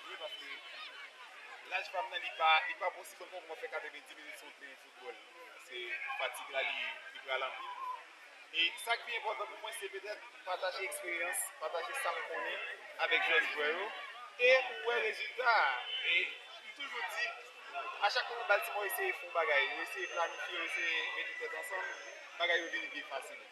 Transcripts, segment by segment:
Wi paske laj pam nan li pa li pa pou si bon konk mwen fè 90 minit sou teren foutbòl se fatig la li li pral anpil e sak pi enpòtan pou mwen se petèt pataje eksperyans pataje sam konnen avèk jèn jwè yo e ou wè rezilta a e m toujou di a chak fwa Baltimore eseye fon bagay yo eseye planifye yo eseye mete tèt ansanm bagay yo vini pi fasil.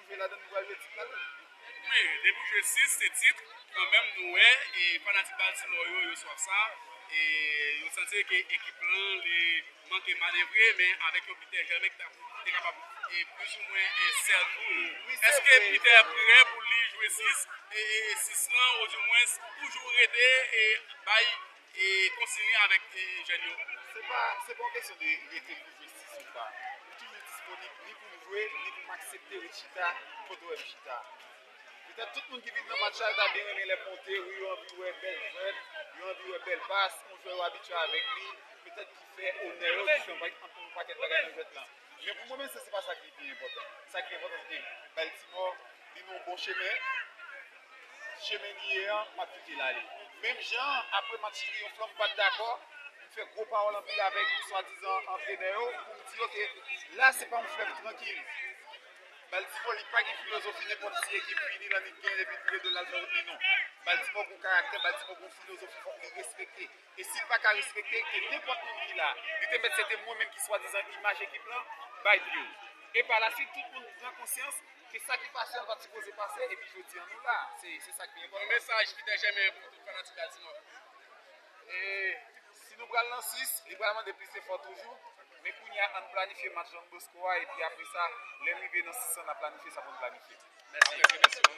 jwe ladan nou pral jwe tit la tou. Wi depiw jwe 6 se tit kanmenm nou wè fanatik Baltimore yo yo swaf sa e yo santi ke ekip lan li manke manevre men avèk yon Peter Hermin ki te kapab plis ou mwen sèl pou yo. Eske Peter prè pou li jwe 6 e 6 lan ou di mwens toujou rete bay E kontinye avèk jèn yo. Se pa yon kesyon de rete pou jistis ou pa. Nou toujou disponib ni pou nou jwe, ni pou m aksepte ret chita kote w wè m chita. Petèt tout moun ki vin nan match sa yo ta byen renmen lè m monte, wi yo anvi wè bèl jwèt, yo anvi wè bèl pas, yon jwè yo abitye avèk li, petèt ki fè onè yo, ki fè yon pakèt bagay nan jwèt lan. Men pou mwen menm se pa sa ki pi enpòtan. Sa ki enpòtan se ke Baltimò vin yon bon chemen. Chemen li ye an, m'ap kite l'ale. Menm jan an, apre match triyonf-lan m'pat dakò, m'fè gwo pawòl anpil avèk swadizan antrenè yo pou m'di yo ke la se pa yon flèv trankil. Baltimò li pa gen filozofi nenpòt si ekip vini lan li gen epi tou le 2 l'al fè wout li non. Baltimò gen yon karaktè, Baltimò gen yon filozofi fòk li respekte. E si l pa ka respekte l ke nenpòt moun ki la, li te mèt se te mwen menm ki swadizan imaj ekip lan, bay pye l. E pa laswit tout moun pran konsyans ke sa ki pase an pat sipoze pase epi jodi an nou la. Se sa k pi enpòtan. Yon mesaj ki te jèmen pou tout fanatik Altimòf yo. E si nou pral nan 6, li pral mande plis efò toujou. Men kounye a ann planifye match Don Bosco a epi apresa lè n rive nan 6 lan n ap planifye sa pou n planifye. Mèsi mesye.